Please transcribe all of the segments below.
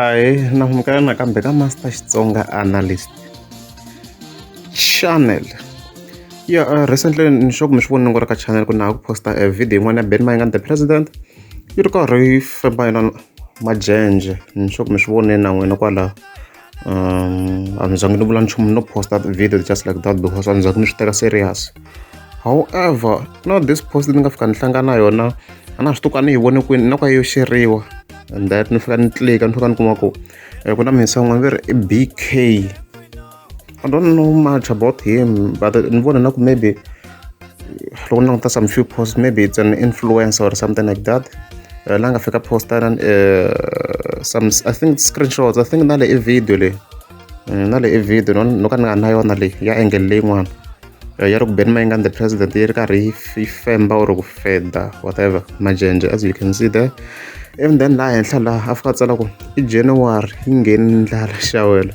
Ahee nambukela nakambe ka Master Xitsonga Analyst Channel. Ya recently ni sure ku mi swi vonile kwala ka channel ku na ha ku post-a e video yin'wana ya Benny Mayengani the President, yi ri karhi yi famba yona majenje. Ni sure ku mi swi vonile na n'wina kwalaho. um a ni zangi ni vula nchumu no posta video just like that because a ni zangi ni swi teka serious however no this post ni nga fika ni hlangana na yona a na swi tuka ni yi vone kwini na ku yo xeriwa and that ni fika ni tlika ni fika ni kuma ku eh, ku na minsan'wana ve ri i bk i don't know much about him but ni vona na ku maybe loko ni langutisa some few posts maybe it's an influencer or something like that eh, la nga fika posta na eh, some i think screenshots i think na le i video leyi eh, na le i video no no ka ni nga na yona leyi ya angle leyin'wana ya ri ku ben mayingani the president yi ri karhi yi femba or ku feda whatever majenje as you can see there even then laha henhla laha a fika a tsala ku i january yi ngheni ndlala xawela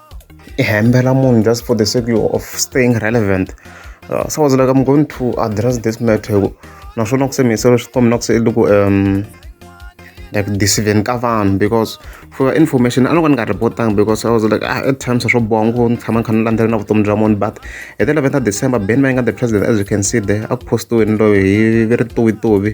i hembela munhu just for the sake of staying relevant uh, so i was like i'm going to address this matter hi ku naswona ku se mi yisela swikombi na ku se loko um like disiveni ka vanhu because for your information a loko ni nga repotanga because i was like ah, at times swo boha ngopfu ni tshama ni kha ni landzela na vutomi bya munhu but hi the 11 december ben mayinga the president as you can see there a ku postiweni loyi hi ri tuwituwi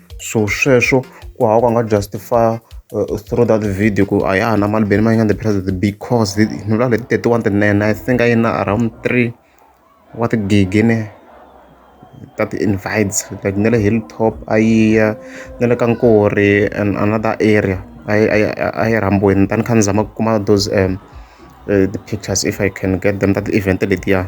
so sweswo ku hava ku a nga justify uh, through that video ku a ya na mali beni ma yi nga the president because ni vula leti thirty-one tinene i think a yi na around three wa tigigi ne ta ti-invites like na le hilltop a yi ya na le ka nkori and another area a yi a yi rhambweni tani kha ni zama ku kuma those um, uh, the pictures if i can get them that event letiya